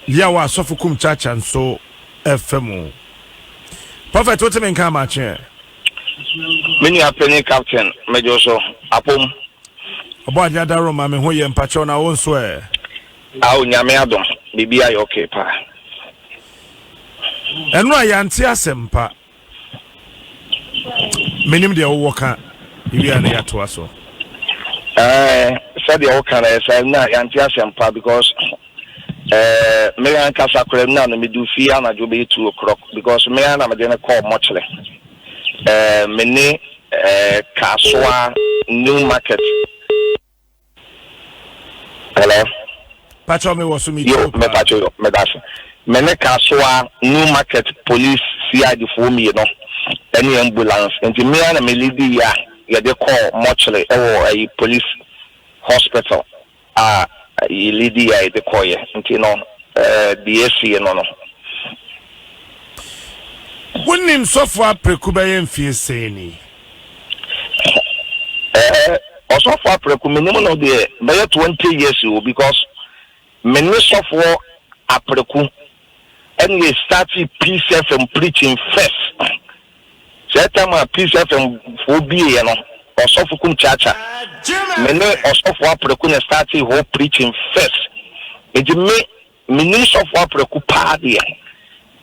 Yaw a sɔfo kum kyaakyaa nso ɛfa mu. Prophet wote me nka amakyeɛ. Me nua panin captain medwo so apom. Ɔbɔ adeɛ adaro ma me ho yɛ mpakyɛw na wo nso ɛ. Ao nyame adom biribi ayɛ okay paa. Ɛno a yɛante asɛm pa. menim deɛ wowɔ ka ewie a na yɛatoa so. Eh, sɛdeɛ woka no ɛsɛ na yɛante asɛmpa because eh, me ankasa koraa na no medu fie anadwo bɛyɛ two o'clock because me ara na mede no kɔɔ mɔkyerɛ eh, me ne eh, kaasoa new market Hello. Pacho me wɔ so me tio pa. Yo, me pacho yo, me da se. Me ne Kasoa New Market Police CID foɔ mmieno ɛne ambulance nti me ara na me leadi ya yɛde kɔɔ mortuary ɛwɔ ɛyi police hospital a yi leadi ya yɛde kɔɔ yɛ nti no ɛɛ deɛ ɛsiye no no. Wonim sɔfo apreku bɛyɛ mfie sɛɛ ni? Ɛɛ ɔsɔfo aprɛko menim no deɛ bɛyɛ twenty years o because me ne sɔfoɔ aprɛko ɛne yɛ starti peace fm preaching first sɛ time a peace fm foɔ bieɛ no ɔsɔfo kum kyaakya me ne ɔsɔfo aprɛko na starti hɔ preaching first nti me Menim sɔfo Apraku paa deɛ,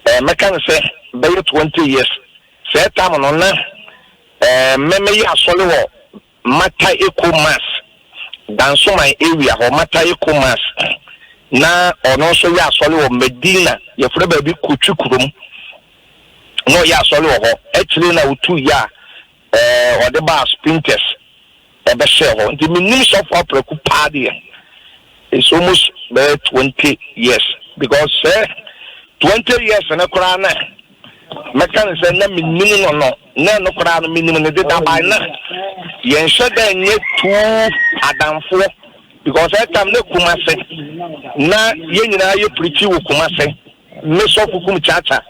ɛɛ mɛka no sɛ bɛyɛ twenty years sɛɛ tam no na ɛɛ mɛ mɛyɛ asɔre wɔ Mata Eko Mass, Dansoman area hɔ Mata Eko Mass na ɔno nso yɛ asɔre wɔ Medina yɛfrɛ baabi Kotwi kurom na ɔyɛ asɔre wɔ hɔ akyire na ɔtu yɛ a Ɛɛ, wɔde baa Spintex bɛhyɛɛ hɔ. Nti menim sɔfo Apraku paa deɛ. It's almost bɛyɛ twenty years because sɛ twenty years no koraa na mɛka no sɛ na menim no no, na ɛno koraa no menim no deda by na yɛnhyɛ da nyɛ two adamfoɔ because that time na Kumase na yɛn nyinaa yɛ pirikyi wɔ Kumase, me sɔfo kum Kyaakya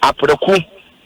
Apraku.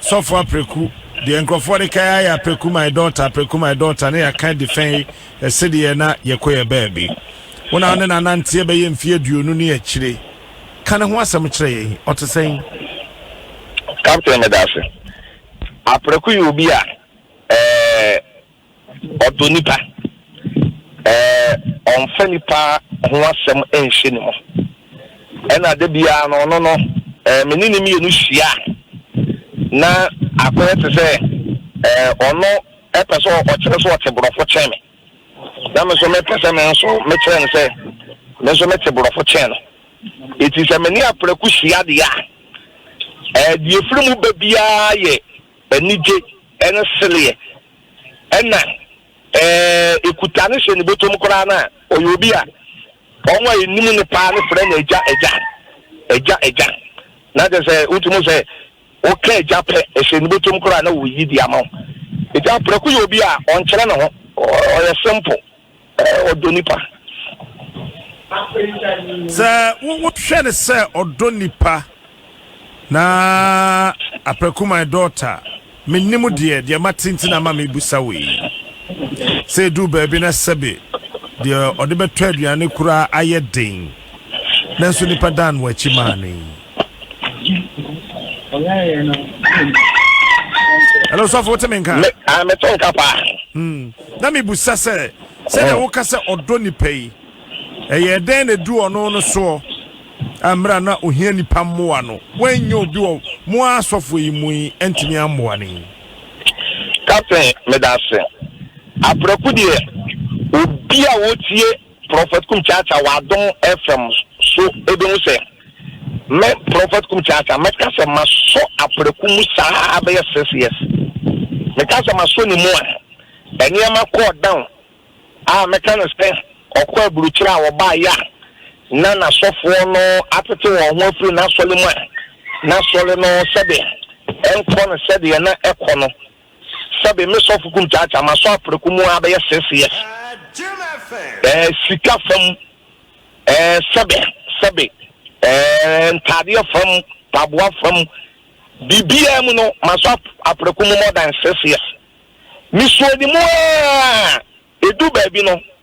Sɔfo Apreku, deɛ nkorɔfoɔ de kae ara yɛ Apreku my daughter, Apreku my daughter ne yɛaka de fɛn yi sedeɛ na yɛkɔ yɛ baabi. Wo na wo ne no ananteɛ bɛyɛ mfeɛ aduonu ne akyire. Ka ne ho asɛm kyerɛ yɛn, ɔte sɛn? Captain, Meda ase. Apreku yɛ obi a, eh, Ɔdɔ nnipa. Ɛɛ, ɔmfa nnipa ho asɛm nhyɛ ne mu. Ɛnna da biara no, ɔno no, ɛɛ, me ne no mmienu hyia a, na akɔyɛ te sɛ, ɛɛ, ɔno pɛ sɛ ɔkyerɛ sɛ ɔte borɔfo kyɛn me, na me nso mepɛ sɛ me nso mekyerɛ no sɛ me nso mete borɔfo kyɛn no. Enti sɛ me ne Aprɛko hyia deɛ a, ɛɛ, deɛ ɛfiri mu ba biara yɛ Anigye ne sereɛ na ɛkuta no hyɛ ne bɔtɔm koraa no a, ɔyɛ obi a wɔn a ɛnim no paa no frɛ no agya, agya, agya, agya. Na kyerɛ sɛ wotumi hu sɛ woka agya pɛ, ɛhyɛ ne bɔtɔm koraa na ɔreyi de ama wo. Nti Aprɛko yɛ obi a ɔnkyerɛ ne ho, ɔyɛ simple. Ɔdɔ nipa. Sɛ wohwɛ no sɛ ɔdɔ nipa na aprɛko my daughter menim deɛ deɛ mate nti na ama mebusa wei sɛ ɛduu baabi na sɛbe deɛ ɔde bɛtɔ aduane koraa ayɛ den nanso nipa dan wɔ akyi maa no yi hello sɔfo wote me nka ah, mete nka paa hmm. na mebusa sɛ sɛdeɛ oh. woka sɛ ɔdɔ nipa yi ɛyɛ dɛn na ɛdu ɔno no soɔ mmerɛ na ohia nipa mmoa no woanyɛ obi wɔ mo a asɔfoɔ yi mu yi antumi ammoa no yi captain meda ase aprɛko deɛ obi a wotie Prɔfɛt Kum Kyaakyaa wɔ Adom FM so bɛhu sɛ me, Prɔfɛt Kum Kyaakyaa, mɛka sɛ masɔ aprɛko mu saa bɛyɛ six years. Meka sɛ masɔ ne mu a, nneɛma kɔɔ down a mɛka no sɛ ɔkɔɔ aburukyire a ɔbaeɛ a na n'asɔfoɔ no atete wɔn ho afiri n'asɔre mu a n'asɔre no sɛdeɛ ɛnkɔ no sɛdeɛ na ɛkɔ no. Sɛbe me sɔfo kum kyaakyaa, masɔ aprɛko mu ara bɛyɛ six years. Eh, sika fam, eh, sɛbe, sɛbe, eh, ntaadeɛ fam, taboa fam, biribiara mu no, masɔ aprɛko mu more than six years. Mesuo ne mu ara, edu baabi no,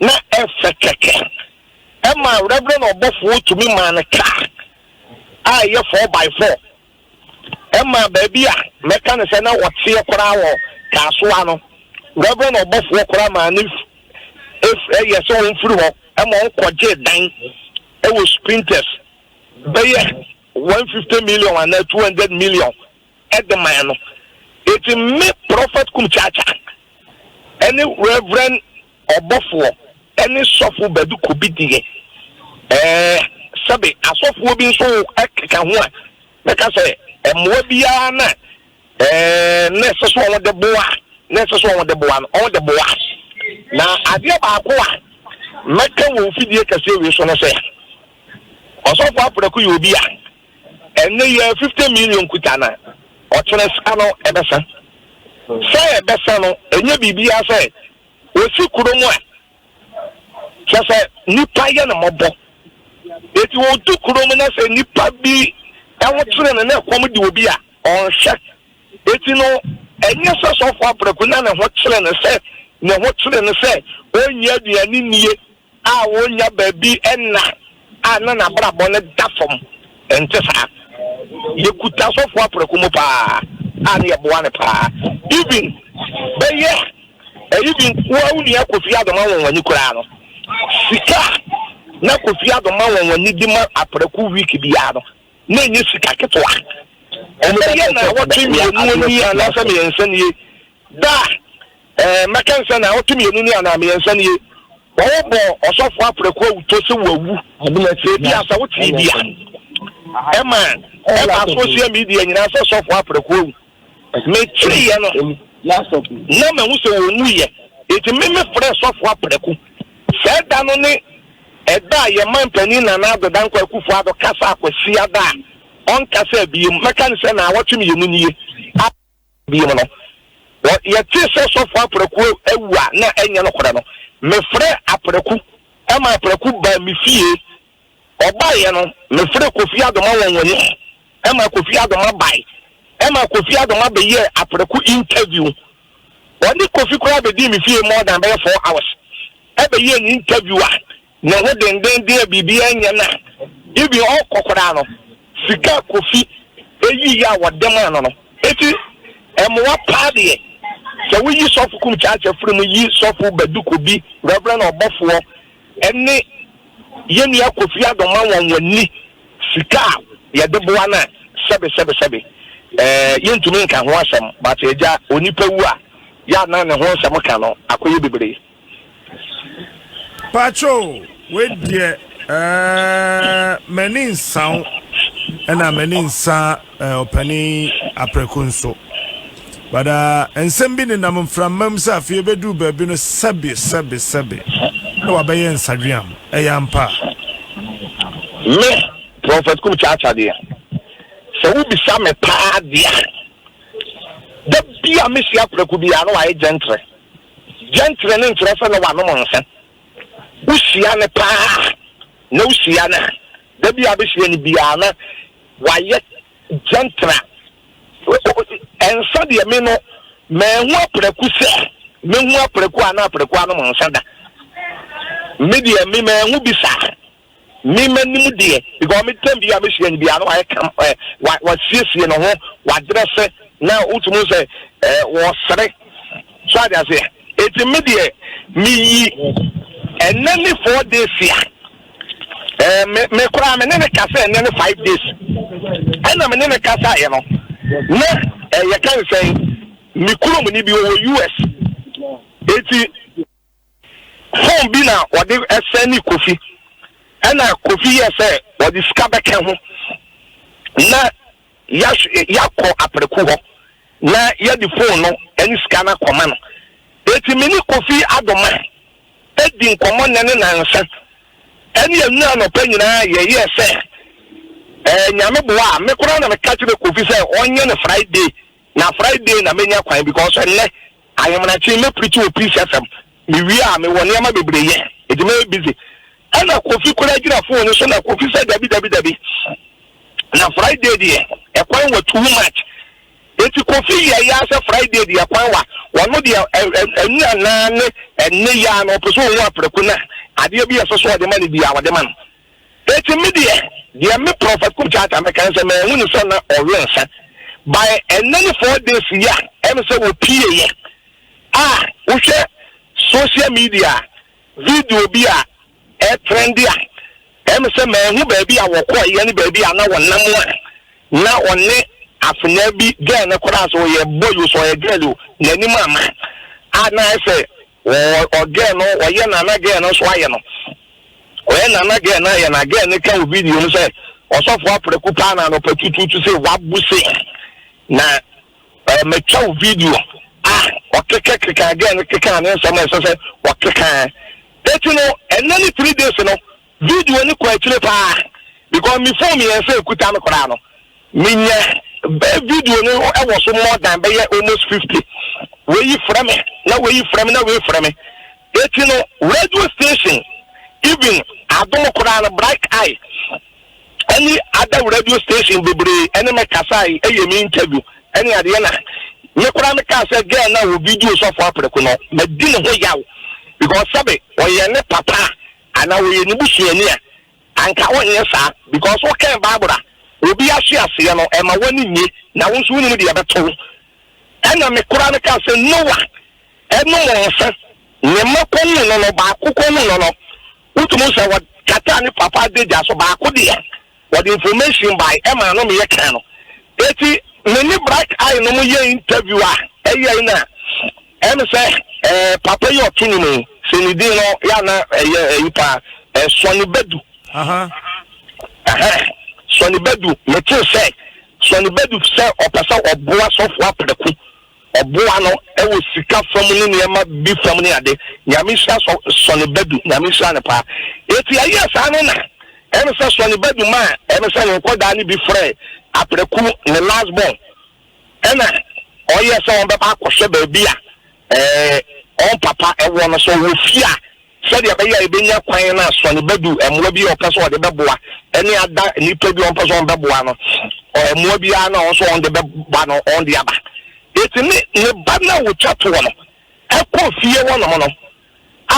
na ɛfɛ kɛkɛ. Ɛmaa Reverend ɔbɔfoɔ tumi maa no car a ɛyɛ four by four. Ɛmaa baabi a mɛka no sɛ na ɔteɛ koraa wɔ Kasoa no, Reverend ɔbɔfoɔ koraa maa no ef, ef, yɛ sɛ ɔmfiri hɔ ma ɔnkɔgyee dan wɔ Sprinters bɛyɛ one fifty million anaa two hundred million de mae no. Enti me Prɔfɛt Kum Kyaakya ne Reverend Ɔbɔfoɔ ne Sɔfo Badu Kobi deɛ ɛɛ sɛbe asɔfoɔ bi nso keka ho a bɛka sɛ mmoa biara na ɛɛ na ɛsɛ sɛ wɔn de boa na ɛsɛ sɛ wɔn de boa no wɔn de boa. Na adeɛ baako a mɛka wɔ mfidie kɛseɛ wei so ne sɛ Ɔsɔfo Apraku yɛ obi a. Ɛnne yɛ fifty million kuta na ɔkyerɛ sa no ɛbɛsa sɛ ɛbɛsa no ɛnyɛ biribiara sɛ ɔsi kuro mu a kyɛ sɛ nipa yɛ no mɔbɔ ɛti wɔdu kuro mu na sɛ nipa bi ɛho kyerɛ no na ɛkɔm de obi a ɔnhwɛ ɛti no ɛnyɛ sɛ sɔfo abrɛku na ne ho kyerɛ no sɛ ne ho kyerɛ no sɛ ɔnyɛ aduane nie a wonnya baabi nna a na n'abrabɔ no da fam. Ɛnte saa. Yekuta sɔfo aprɛko mu paa a na yɛboa no paa. Even bɛyɛ ɛyi bi nkoa wo nua Kofi Addo ma wɔn ani koraa no, sika a na Kofi Addo ma wɔn ani de ma aprɛko week biara no, na ɛnyɛ sika ketewa. Ɛbɛyɛ na awɔtwe mmienu nie anaasɛ mmiɛnsa nie da a Ɛɛ, mɛka nsɛ na ɔto mmienu ni anaa mmiɛnsa nie? Wɔbɔ ɔsɔfoɔ aprɛko awuto sɛ wawu. Sɛ ebia sɛ wote bi a, ɛma ɛba social media nyinaa sɛ ɔsɔfoɔ aprɛko awu. Meteeɛ no, na mahu sɛ ɔnwuiɛ, enti me mefrɛɛ ɔsɔfoɔ aprɛko. Saa da no ne ɛda a yɛn manpanin Nana Addo Dankwa Akuffo Addo kasaa Kwasiada a ɔnkasaa bio. Mɛka nsɛ na awɔtwe mmienu nie. Bio no, wɔ yɛtee sɛ sɔfo Apraku awu a na ɛnyɛ nokorɛ no, mefrɛɛ Apraku ma Apraku baa me fie. Ɔbaeɛ no, mefrɛɛ Kofi Adoma wɔ nwanim ma Kofi Adoma bae. Ɛma Kofi Adoma bɛyɛɛ Apraku interview. Ɔne Kofi koraa bɛdii me fie more than bɛyɛ four hours bɛyɛɛ ne interview a. Ne ho denden deɛ biribiara nyɛ no a, even ɔkɔ koraa no, sika a Kofi yiiɛ a wɔde maa no no, enti ɛmoa paa deɛ. Sɛ woyi Sɔfo Kum Kyakya firi mu yi Sɔfo Badu Kobi, Reverend Ɔbɔfoɔ, ne yɛn nua Kofi Addo ma wɔn wɔnni sika a yɛde boa no a, sɛbe sɛbe sɛbe, eh, yɛntumi nka ho asɛm. But Agya, onipa wu a, yɛ a na ne ho nsɛm ka no akɔyɛ bebree. Patroo wei deɛ ɛɛ m'ani nsa wo ɛna m'ani nsa ɛɛ ɔpani aprɛko nso bada nsɛm bi nenam mframa mu sɛ afei ebɛduru baabi no sɛbe sɛbe sɛbe na wabɛyɛ nsadweam ɛyɛ ampa. Me prɔfɛt kum kyaakya deɛ sɛ wobisa me paa deɛ da bi a mesi aprɛko biara na wayɛ gyɛntrɛ Gyɛnkyerɛnne nkyerɛ sɛ na wanom nsa. Wohyia no paa a, na wohyia no a, da bi a wobɛhyia no biara na wayɛ gyɛntra. Nsa deɛ me no, manhu apraku sɛ mɛhu apraku a na apraku anom nsa da. Me deɛ me manhu bi saa. Me m'anim deɛ because me tam bi a me hyia no biara no wayɛ kam ɛ wa wasiesie ne ho wadrɛse na wotumi hu sɛ ɛ wɔsere so ade aseɛ eti me deɛ me yi ɛnɛ ne four days a ɛ me me koraa me ne ne kasa ɛnɛ ne five days ɛna me ne ne kasa yɛ no na ɛyɛ kan sɛn me kurom ni bi wɔ US eti. Phone bi na wɔde sɛnde Kofi ɛna Kofi yɛɛ sɛ wɔde sika bɛka ho na yɛahw yɛakɔ Apreku hɔ na yɛde phone no ne sika no akɔma no. Enti me ne Kofi Adomah di nkɔmmɔ nnɛ ne nnansa ne anwura anɔpa nyinaa yɛyɛɛ sɛ ɛɛ Nyame boa a, me koraa na meka kyerɛɛ Kofi sɛ ɔnyɛ no Friday Na Friday na menya kwan because ɛnnɛ ahemanakye mɛ preach wɔ Peace FM. Me wie a me wɔ nneɛma bebree yɛ nti mɛyɛ busy. Ɛna Kofi koraa gyina phone no so na Kofi sɛ dabi dabi dabi na Friday deɛ ɛkwan wɔ too much. Nti Kofi yɛ ya sɛ Friday deɛ ɛkwan wa ɔno deɛ ɛnura naa ne ɛnne ya na ɔpɛ sɛ ɔhu aprɛko na adeɛ bi a ɛsɛ sɛ ɔde ma no biara ɔde ma no. Enti me deɛ, deɛ me Prophet Kup Charter mɛka ne sɛ manhu no sɛ na ɔwe nsa by ɛnnɛ ne four days yi a ɛm sɛ ɔpieeɛ a wohwɛ social media a video bi a ɛtrɛnde a ɛm sɛ manhu baabi a wɔkɔeɛ ne baabi a na wɔnam a na ɔne afenaa bi girl no koraa sɛ ɔyɛ boy o sɛ ɔyɛ girl o n'anim ama a na ayɛ sɛ Wɔ ɔ girl no ɔyɛ na na girl no nso ayɛ no ɔyɛ na na girl no ayɛ na girl no ka wɔ video no sɛ ɔsɔfo apreku paa na anɔpa tutuutu sɛ wabu se na eh, matwa wo video a ɔkeka keka girl no keka ne nsɛm a ɛsɛ sɛ ɔkeka eti no ɛnɛ ne three days no Video no kɔ akyire paa because me phone mmiɛnsa ɛkuta no koraa no menya video no wɔ so more than bɛyɛ almost fifty wei yi frɛ me na wei yi frɛ me na wei frɛ me eti no radio station even adom koraa no bright eye ɛne ada radio station bebree ɛne me kasa yi ɛyɛ me interview ɛne adeɛ na me koraa me kaa sɛ girl na wɔ video sɔfo apɛrɛko no mɛ di ne ho yaw because sɛbe ɔyɛ ne papa. Ana wɔyɛ ne busuani a? Anka wonyɛ saa because wokɛn bible a obi ahye aseɛ no ɛma wani nye na wo nso wonim deɛ ɛbɛto wo ɛna me koraa me kaa sɛ Noah nom nsa ne mma kɔhuu no no baako kɔhuu no no wotumi hu sɛ ɔkataa ne papa adagya so baako deɛ Wɔde information bae ɛmaa no meyɛ kan no eti me ne Bright Eye nom yɛ interview a ɛyɛe no a ɛne sɛ ɛɛ papa yi ɔto nwom yi sɛ ne din no yɛ ana ɛyɛ ɛyi paa ɛɛ Sɔne Badu ɛhɛ Sɔne Badu metee sɛ Sɔne Badu sɛ ɔpɛ sɛ ɔboa sɔfo aprɛko Ɔboa no wɔ sika fa mu ne nneɛma bi fa mu ne ade. Nyame nhyira Sɔ Sɔne Badu. Nyame nhyira no paa. Enti ɛyɛɛ saa no na ɛyɛ ne sɛ Sɔne Badu maa ɛyɛ ne sɛ ne nkɔdaa no bi frɛɛ Apraku, ne last born, ɛna ɔyɛɛ sɛ wɔbɛba akɔhwɛ baabi a ɛɛ wɔn papa wɔ no, sɛ ɔwɔ fie a. Sɛdeɛ ɛbɛyɛ a yɛbɛnya kwan na asɔne bɛdu mmoa bi a ɔpɛ sɛ ɔde bɛboa ne ada nnipa bi a ɔmpɛ sɛ ɔbɛboa no, mmoa biara no a ɔwɔ sɛ ɔde bɛba no ɔde aba. Enti ne ne ba no a ɔtwa toɔ no kɔ fie hɔnom no a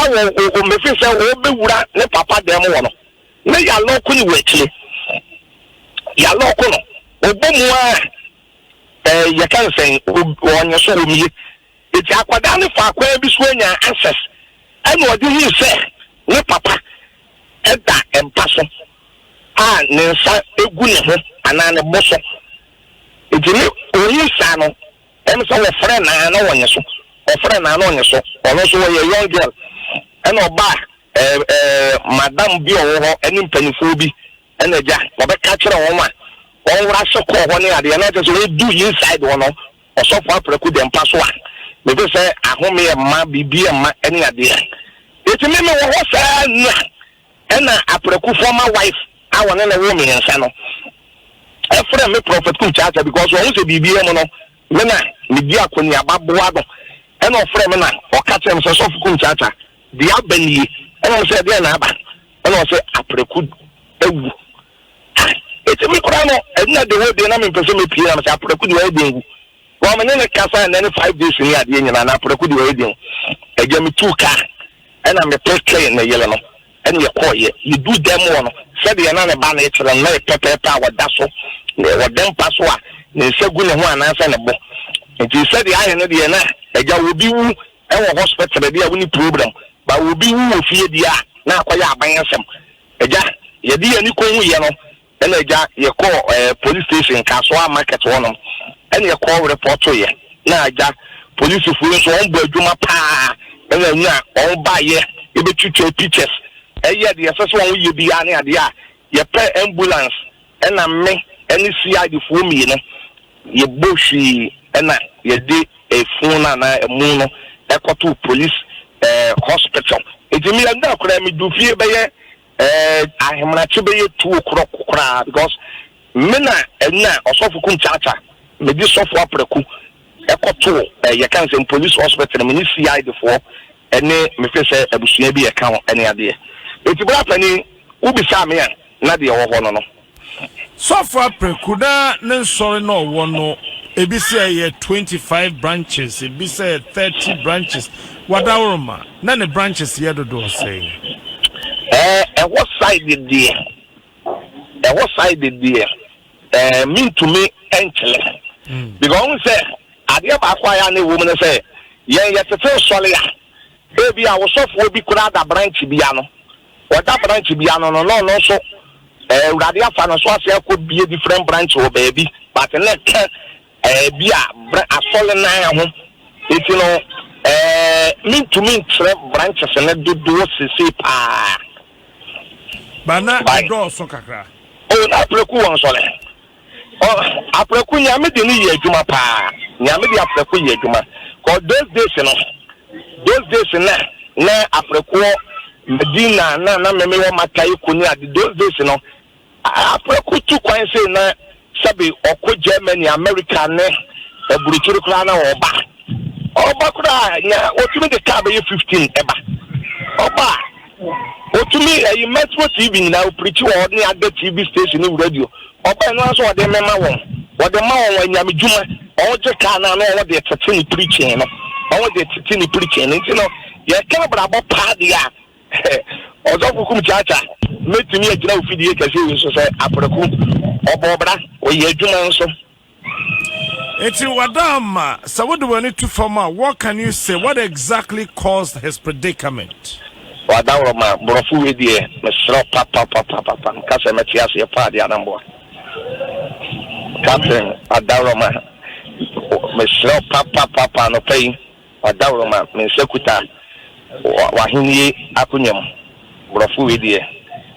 ɔmmɛfiri sɛ ɔbɛwura ne papa dan mu hɔ no, na yɛalɔɔko ne wɔ akyire. Yɛalɔɔko no, ɔbɔ mu a yɛka ne sɛn, ɔnye so wɔm ye. Enti akwadaa no faa kwan bi so nyaa answers ɛna ɔde hui sɛ ne papa da mpa so a ne nsa gu ne ho anaa ne bo so. Enti ne ɔhui saa no ɛm sɛ wɔfrɛ no a na ɔnye so, wɔfrɛ no a na ɔnye so. Ɔno nso ɔyɛ young girl ɛna ɔbaa ɛɛ ɛɛ madam bi a ɔwɔ hɔ ɛne mpaninfoɔ bi ɛna agya ɔbɛka kyerɛ wɔn a wɔn wura se kɔɔ hɔ ne adeɛ na ɔkyerɛ sɛ ɔdu inside hɔ no Ɔsɔfo Apraku de mpa so a, mete sɛ ahome mma biribi mma ne adeɛ. Enti me mewɔ hɔ saa nna ɛna Apraku former wife a ɔne no woo mmiɛnsa no ɛfrɛ me Prophet Cook Charter because ɔhu sɛ biribiara mu no me na medi akɔneaba boa no ɛna ɔfrɛ me na ɔka kyerɛ me sɛ Sɔfo Cook Charter deɛ aba nie ɛna me sɛ ɛdeɛn na aba ɛna ɔsɛ Apraku awu Aa! Etse me koraa no, nna de hɔ dee na memmpɛ sɛ mepue na mesɛ Apraku de wayɛ dɛn wu? Bɔ mene no kasae nnɛ ne five days ni adeɛ nyinaa na Apraku de wayɛ dɛn wu? Agya metuu kaa ɛna mepɛ twɛn ne yere no ɛna yɛkɔɔeɛ. Yɛduu dan mu hɔ no, sɛdeɛ na ne ba no rekyerɛ no na yɛ pɛpɛɛpɛ a ɔda so wɔ dan mpa so a ne nsa gu ne ho anaasɛ ne bo. Nti sɛdeɛ ayɛ no deɛ na agya obi wu wɔ hospital deɛ a wonni problem but obi wu wɔ fie deɛ a na akɔyɛ aban asɛm. Agya, yɛde yɛn ani kɔhuiɛ no, ɛna agya, yɛkɔɔ eh, police station Kasoa market hɔnom, ɛna yɛkɔɔ repɔtoeɛ, na agya, polisifo yi nso wɔn bɔ adwuma paa, ɛna anya wɔn baeɛ, yɛbɛtwitwa pictures, ɛyɛ deɛ ɛsɛ sɛ wɔn yɛ biara ne adeɛ a, yɛpɛ ambulance. Ɛna me ne CIDfoɔ mmienu yɛbɔ hwii ɛna yɛde funu no anaa ɛmu no kɔtoo police hospital. Nti me ɛda koraa me duu fie bɛyɛ ahemakye bɛyɛ two o'clock koraa because me na ɛna ɔsɔfo kum kyaakya me de sɔfo apraku kɔtoo yɛka nsɛm police hospital me ne CIDfoɔ ɛne me fɛ sɛ abusua bi ɛka ho ɛne adeɛ. Nti bra panin wobisaa me a. Na deɛ ɔwɔ hɔ no no. Sɔfo Apreku na ne nsɔre na ɔwɔ no ebi sɛ ɛyɛ twenty five branches ebi sɛ thirty branches wɔ Adaworoma na ne branches yɛ dodoɔ sɛn? Ɛɛ ɛhɔ side deɛ ɛhɔ side deɛ ɛɛ mentumi nkyerɛ because wohu sɛ adeɛ baako a ɛyɛ a na ɛwɔ mu ne sɛ yɛn yɛtete nsɔre a Ebia wo sɔfoɔ bi koraa da branch bi ano, ɔda branch bi ano no na ɔno nso eh, Awurade afa no so asan akɔ bie different branch wɔ baabi but na ɛka eh, bi a bra, asɔre nan ho. Nti no eh, mentumi nkyerɛ branches no dodoɔ sesei paa. Ba na By, ɛdɔɔso kakra. oh, na apreku wɔ nsɔre. Oh aprɛko Nyame de no yɛ adwuma paa Nyame de aprɛko yɛ adwuma cause those days no those days na na aprɛkoɔ Medina na na meme wɔ maka eko ne ade those days no aprɛko tu kwan sei na sɛbe ɔkɔ Germany America ne aburukyiri koraa na ɔba ɔba koraa nya otumi de kaa bɛyɛ 15 ɛba ɔba a. Otumi ɛyi Metro TV nyinaa oprikyi wɔ hɔ ne ada TV station ne radio ɔbɛn no ara sɛ ɔde mema wɔn wɔde ma wɔn anyame dwuma wɔn gye kaa no ano wɔn de tete ne preaching no wɔn de tete ne preaching no nti no yɛka abrabɔ paa deɛ a ɔsɔfo kum kyaakya mɛtumi agyina ofidie kɛseɛ yi nso sɛ apreku ɔbɔ ɔbra ɔyɛ adwuma nso Enti wɔada ama sɛ wode w'ani to fam a, what can you say? What exactly caused his predicament? W'adaworo ma borɔfo wei deɛ mesrɛ wo papapapapa nka sɛ mɛte aseɛ paa deɛ anamboa. Captain adaworo ma mesrɛ wo papapapa anɔpa yi w'adaworo ma me nsa kuta w'ahennie akonnwa mu borɔfo wei deɛ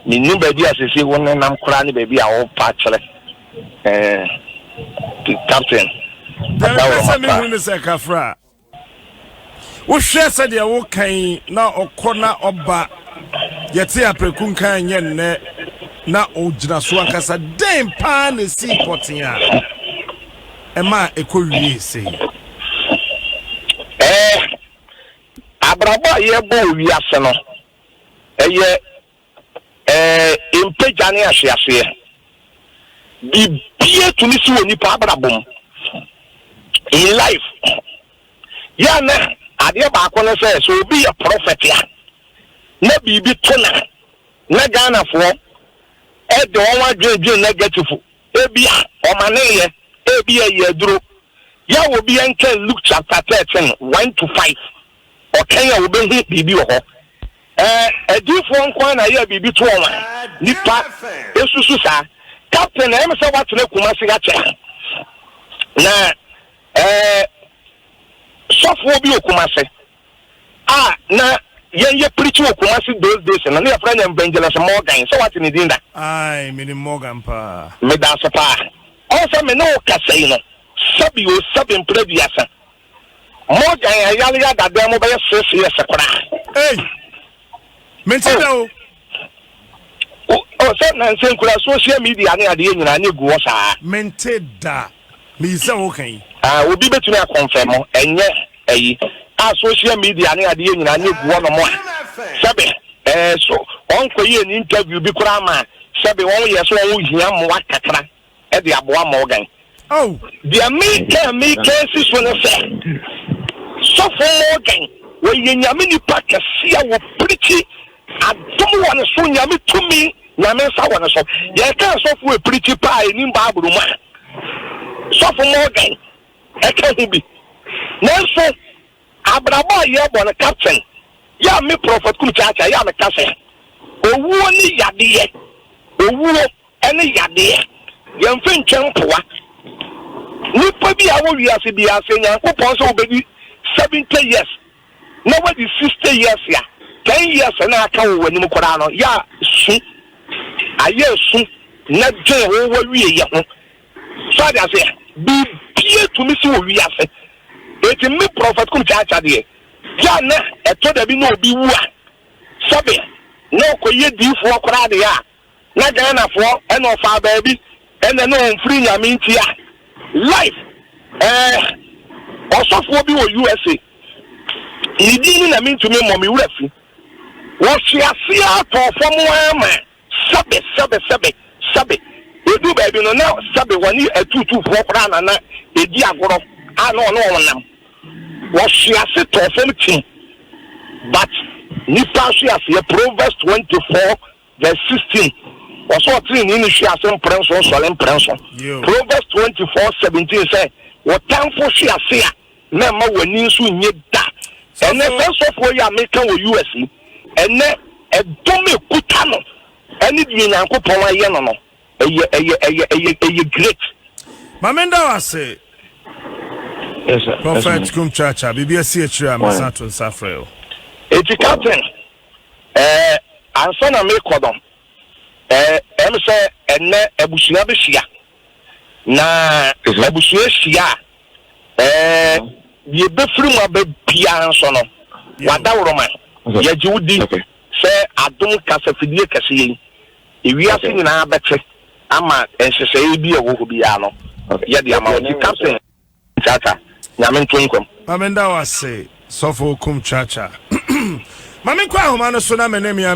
mennim baabi a sese wo nenam koraa ne baabi a wopa kyerɛ. Eh, captain. Deɛ ɛpɛ sɛ mehunu ne sɛ kafra a wohwɛ sɛdeɛ wokan na ɔkɔ na ɔba yɛte aprɛku nkan nyɛ nnɛ na ɔgyina so ankasa dɛn paa na ɛsii pɔten a ɛma ɛkɔ wie sei eh, abrabɔ a yɛbɔ wiase no ɛyɛ Ɛɛ, mpa gya ne ahweaseɛ. Biribiara tumi si wɔ nipa abrabɔ mu, in life. Yɛ a na adeɛ baako ne sɛ, sɛ obi yɛ prɔfɛt a, na biribi to no a, na Ghanafoɔ de wɔn adwene dwene nɛgɛtif. Ebi a, ɔmaneeɛ, ebi a ɛyɛ aduro. Yɛ a obi nkan Luke chapter thirteen, one to five. Ɔtwɛn a obehu biribi wɔ hɔ. Ɛ, adiyifoɔ nko ara na ɛyɛɛ biribi toɔ wɔn a? Nnipa nsusu saa. Captain, ɛyɛ me sɛ woatena Kumasi ha kyɛn. Na, ɛ, sɔfoɔ bi wɔ Kumasi a na yɛn yɛ preach wɔ Kumasi those days no, na yɛfrɛ no Evangelist Morgan. Sɛ woate ne din da? Ae, menim Morgan paa. Meda ase paa. Ɔn sɛ me ne wo kasa yi no, sɛbi o sɛbi mprɛ aduasa Morgan yɛ ayare yɛ adadan mu bɛyɛ six years koraa. Ei! Mente da o. Oh, sɛ nansa nkura social media ne adeɛ nyinaa ne gu hɔ saa. Mente da. Meyi sɛ woka yi. Ah, obi betumi akɔnfɛ mo, ɛnyɛ ayi. A social media ne adeɛ nyinaa ne gu hɔ nom a, sɛbe, eh, so wɔn kɔ yɛ ni interview bi koraa ma, sɛbe wɔn yɛ so wɔn hia mmoa kakra. de aboa Morgan. Deɛ meka a meka asi so ne sɛ, Sɔfo Morgan, ɔyɛ Nyame nipa kɛse a ɔpirikyi adom wɔ ne so, Nyame tumi, Nyame nsa wɔ ne so. Yɛka asɔfoɔ a ɛpirikyi paa a ɛnim Bible mu a, Sɔfo Morgan ka ho bi. Nanso, abrabɔ a yɛbɔ no captain, yɛ a me Prɔfɛt Kum Kyaakyaa, yɛ a meka sɛ, owuo ne yadeɛ, owuo. ɛne yadeɛ. Yɛmfa ntwa mpoa nipa bi a ɔwɔ wiase biara sɛ Nyankopɔn sɛ wobɛdi 70 years na wadi 60 years a, 10 years na aka wɔ w'anim koraa no yɛ a su, ayɛ asu na dwen wo w'awieyɛ ho. So ate aseɛ? Biribiara tumi si wɔ wiase. Enti me Prophet Kum Kyaakya deɛ, yɛ a na ɛtɔ dabi na obi wu a, sɛbe na ɔkɔyɛ diifoɔ koraa deɛ a, na Ghanafoɔ na ɔfaa baabi na na ɔmfiri Nyame nti a life eh Ɔsɔfoɔ bi wɔ USA ne din no na mentumi mmɔ me wura fi Wɔhwe aseɛ ara tɔɔ fam ara ma sɛbe sɛbe sɛbe sɛbe Ɛduu baabi no na sɛbe wɔne atuutuufoɔ koraa na na ɛdi agorɔ a na ɔne wɔn nam Wɔhwe ase tɔɔ fam tim but nnipa ahwe aseɛ Proverbs 24 Verse sixteen, Wɔse ɔteneneeni hwe ase mprɛnson sɔre mprɛnson. Proverbs twenty four seventeen, Sɛ wo tamfo hwe ase a, na mma w'ani nso nnye da. Ɛnnɛ, saa sɔfoɔ yi a meka wɔ US yi, ɛnnɛ ɛdom a ɛkuta no ne deɛ Nyankopɔn ayɛ no no, ɛyɛ, ɛyɛ, ɛyɛ, ɛyɛ, ɛyɛ great. Ma me nda wo ase, Prophet Kumkyaakyaa, biribi asi akyire a, mɛsan ato nsa afrɛ wo. Eti, Captain, Eh, ansa na merekɔ no, eh, ɛyɛ me sɛ ɛnnɛ abusua behyia. Na sɛ abusua hyia a, eh, deɛ ɛbɛfiri mu aba biara nso no, w'adaworoma, yɛgye wo di sɛ adom kasafidie kɛseɛ yi, ewiase nyinaa bɛte ama nhyehyɛeɛ bi a ɛwɔ hɔ biara no, yɛde ama wo. Ti Captain. Chacha nyame nto nkwam. Mame nda wo ase sɔfo okum chacha. Mame nkɔ ahoma no so na mene mea.